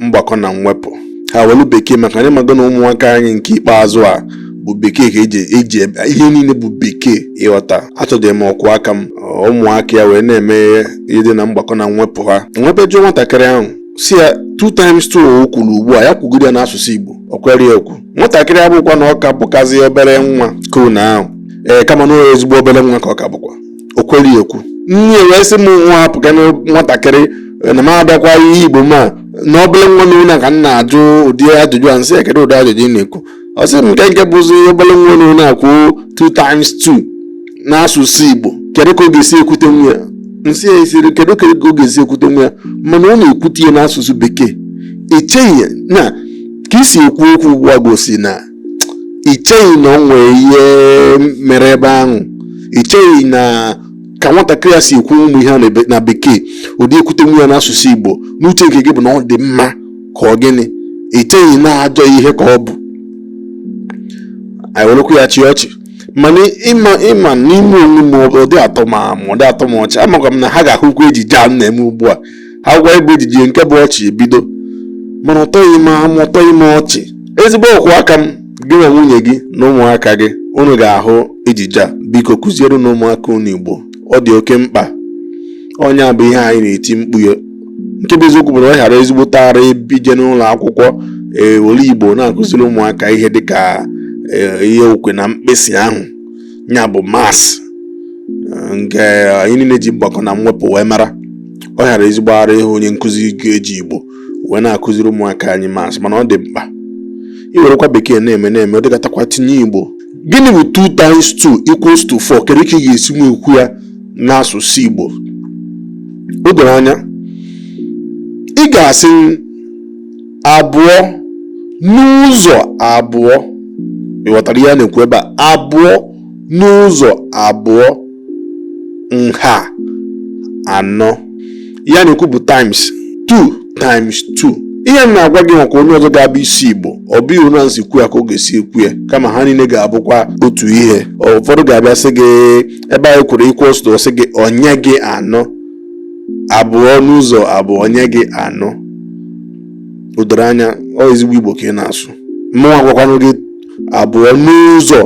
mgbakọ na mwepụ ha welu bekee maka na ị mago na ụmụaka anyị nke ikpeazụ a bụ bekee ka eji eji ebe- ihe niile bụ bekee ịghọta achọdị m ọkwụ aka m ụmụaka ya wee na-eme ihe dị na mgbakọ na mwepụ ha m wee jụọ nwatakịrị ahụ sị ya two times two o kwuru ugbu a ya kwugide ya n'asụsụ igbo o kwere ya ekwu nwatakịrị abụkwa na ọ ka bụkazi obere nwa kona ahụ ee kama na ọ ezigbo obere nwa ka ọ ka bụkwa o kwere ya ekwu nne ya wee sị m nwa hapụkwanụ nwatakịrị eh, na m abịakwa ihe igbo m a na obere nwa nunwa ka m na-ajụ ụdị ajụjụ a m sị ya kedu ụdị ajụjụ ị na-ekwu ọ sị m nke nke bụzi obere nwa nunwa ikwu 2 times 2 n'asụsụ igbo kedu ka ọ ga-esi ekwutenwu ya m sị ya ị sịrị kedu ka ọ ga-esi ekwutenwu ya mana ọ na-ekwute ya n'asụsụ bekee i cheghị na ka i si ekwu okwu ugbu a gosi na i cheghị na o nwere ihe mere ebe ahụ i cheghị na ka nwatakịrị a si ekwunwu ụmụ ihe a na be- na bekee ọ dị ekwutenwu ya n'asụsụ igbo n'uche nke gị bụ na ọ dị mma ka ọ gịnị i cheghị na ajọ ihe ka ọ bụ anyị werekwa ya chịa ọchị mana ịma ịma n'ime onwe m ọ dị atọ m ọ dị atọ m ọchị amakwa m na ha ga-ahụkwa ejije a m na-eme ugbu a agwa ebe ejije nke bụ ọchị ebido mana ọ tọghị m ọ tọghị m ọchị ezigbo ọkwụ aka m gị na nwunye gị na ụmụaka gị unu ga-ahụ ejije a biko kụzierenụ ụmụaka unu igbo ọ dị oke mkpa ọ ya bụ ihe anyị na-eti mkpu ya nke bụ eziokwu bụ na ọ ga-ara ezigbo tara ebije n'ụlọ akwụkwọ e were igbo na-akụziri ụmụaka ihe dịka ihe okwe na mkpịsị ahụ ya bụ maths nke anyị niile ji mgbakọ na mwepụ wee mara ọ ga-ara ezigbo ara ịhụ onye nkụzi ga-eji igbo wee na-akụziri ụmụaka anyị maths mana ọ dị mkpa i werekwa bekee na-eme na-eme ọ dịgatakwa tinye igbo gịnị bụ 2 times 2 equals to 4 kedu ka ị ga-esi wee kwuo ya n'asụsụ igbo o doro anya ị ga-asị abụọ n'ụzọ abụọ ị ghọtara ihe a na-ekwu ebe a abụọ n'ụzọ abụọ nha anọ ihe a na-ekwu bụ times 2 times 2 ihe m na-agwa gị maka onye ọzọ ga-abụ isi igbo ọ bụghị otu m si kwuo ya ka ọ ga-esi ekwu ya kama ha niile ga-abụkwa otu ihe ụfọdụ ga-abịa sị gị ebe anyị kwuru equals to sị gị o nye gị anọ abụọ n'ụzọ abụọ o nye gị anọ o doro anya ọ ezigbo igbo ka ị na-asụ mụnwa agwakwanụ gị abụọ n'ụzọ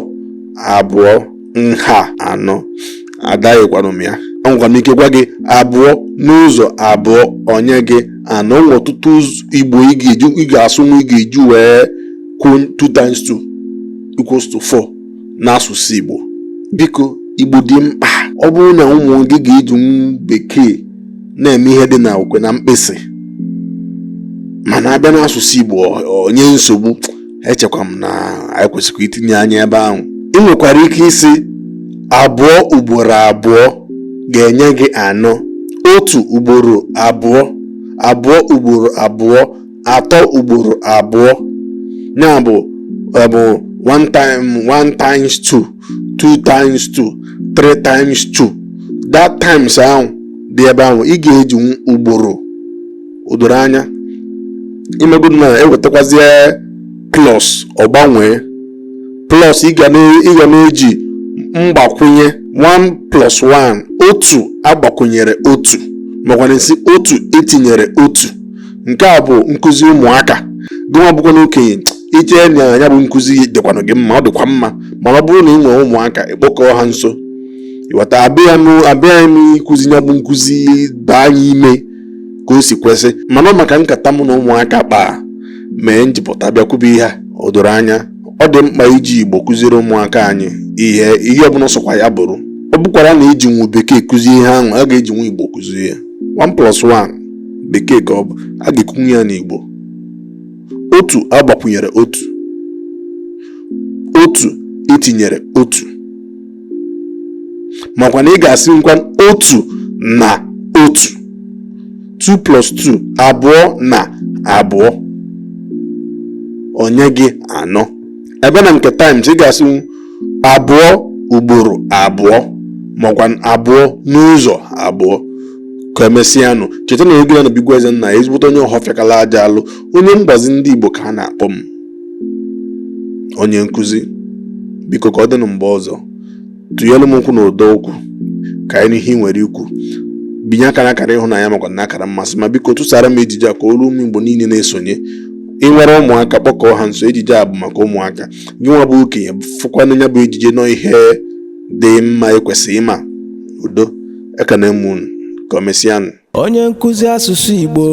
abụọ nha anọ adaghịkwanụ m ya enwekwa m ike gwa gị abụọ n'ụzọ abụọ o nye gị anọ nwe ọtụtụ igbo ị ga-eji ị ga-asụnwu ị ga-eji wee kwuo 2 times 2 equals to 4 n'asụsụ Igbo biko Igbo dị mkpa ọ bụrụ na ụmụ gị ga-eji bekee na-eme ihe dị na okwe na mkpịsị mana a bịa n'asụsụ Igbo o nye nsogbu echekwa m na anyị kwesịrị itinye anya ebe ahụ ị nwekwara ike ịsị abụọ ugboro abụọ ga-enye gị anọ otu ugboro abụọ abụọ ugboro abụọ atọ ugboro abụọ ya bụ bụ one time one times two two times two three times two that times ahụ dị ebe ahụ ị ga-eji ugboro o doro anya imegodu na e wetakwazie plus ọ gbanwee plus ị ga na-eji mgbakwunye 1 plus 1 otu a gbakwunyere otu makwa na ị sị otu e tinyere otu nke a bụ nkụzi ụmụaka gịnwa bụkwanụ okenye i chee na ya bụ nkụzi dịkwanụ gị mma ọ dịkwa mma mana ọ bụrụ na ị nwere ụmụaka ị kpọkọọ ha nso ị ghọta abịaghị m ịkụzi ya bụ nkụzi baa ya ime ka o si kwesị mana ọ maka nkata mụ na ụmụaka kpaa mee m ji pụta bịa kwube ihe a o doro anya ọ dị mkpa iji igbo kụziere ụmụaka anyị ihe ihe ọbụla sọkwa ya bụrụ ọ bụkwara na e jinwu bekee kụzie ihe ahụ a ga-ejinwu igbo kụzie ya 1 plus 1 bekee ka ọ bụ a ga-ekwunwu ya n'Igbo otu a gbakwunyere otu otu e tinyere otu makwa na ị ga-asịnwukwa otu na otu 2 plus 2 abụọ na abụọ o nye gị anọ ebe na nke times ị ga-asị abụọ ugboro abụọ makwa abụọ n'ụzọ abụọ ka emesịanụ cheta na egwu ya na bụ igwe eze nna ezigbote onye ọhọfịakala aja alụ onye mgbazi ndị igbo ka a na-akpọ m onye nkụzi biko ka ọ dịnụ mgbe ọzọ tụnyere m okwu na ọdọ okwu ka anyị nụ ihe i nwere ikwu binye aka na akara ịhụnanya makwa na akara mmasị ma biko tụsara m ejije a ka o ruo ụmụ igbo niile na-esonye ị nwere ụmụaka kpọkọọ ha nso ejije a bụ maka ụmụaka gị nwa bụ okenye fụkwanụ ya bụ ejije na ọ ihe dị mma i kwesị ịma udo ekene m unu ka o mesịanụ onye nkụzi asụsụ igbo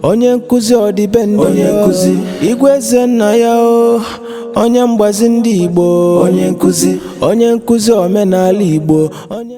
onye nkụzi ọdịbendị onye nkụzi igwe eze nna ya o onye mgbazi ndị igbo onye nkụzi omenala igbo onye